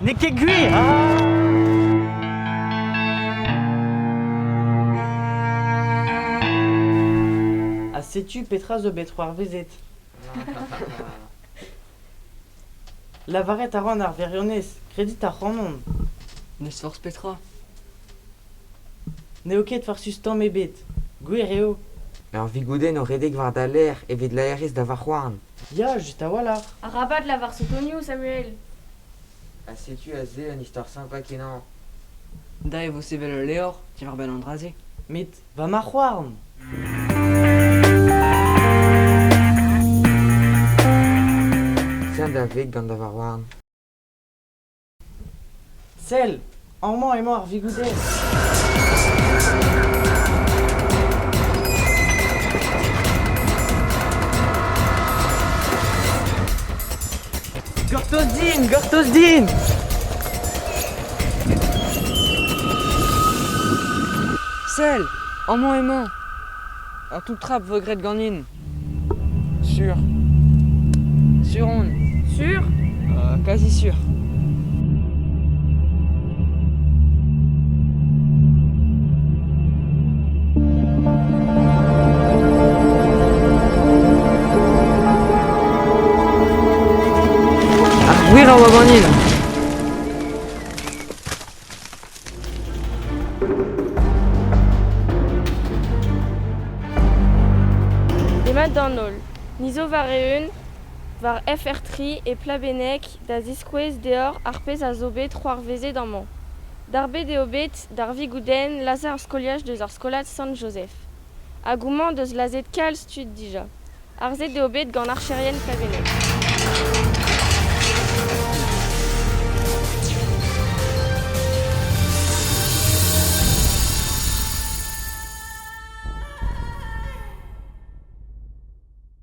N'eo ket gwir ah! Ha setu petra zo bet c'hoarvezet. Lavaret a ran ar wirionez, kredit ac'hanon. N'eus forzh petra. N'eo ket farsus tamm ebet. Gwir eo. Ur vigoudenn o redek war da lerc'h evit laerezh da varc'houarn. Ya, just a-walc'h. Arabat lavar sotonioù, Samuel. Ha setu aze un istor sympa kenañ. Da e vo sevel ul levr diwar-benn an dra-se. Met Va marc'h-houarn! Sell da veg gant da varc'h-houarn. Sell! Amañ emañ ar vigoudez. Gortoz din, gortoz din! Sell, amañ emañ. Ur toull-trap vo graet ganin. Sur. Sur on Sûr euh, Quasi sûr. Ar gwir a oa ganin. Demat d'an holl. Ni zo war-eeun war FR3 e Plabenneg da ziskouez deoc'h ar pezh a zo bet c'hoarvezet amañ. Darbet eo bet d'ar Vigoudenn lazhañ ar skoliaj deus ar skolad Sant-Jozef. Hag houmañ deus lazhet kalz tud dija. Harzet eo bet gant archerien Faveneg.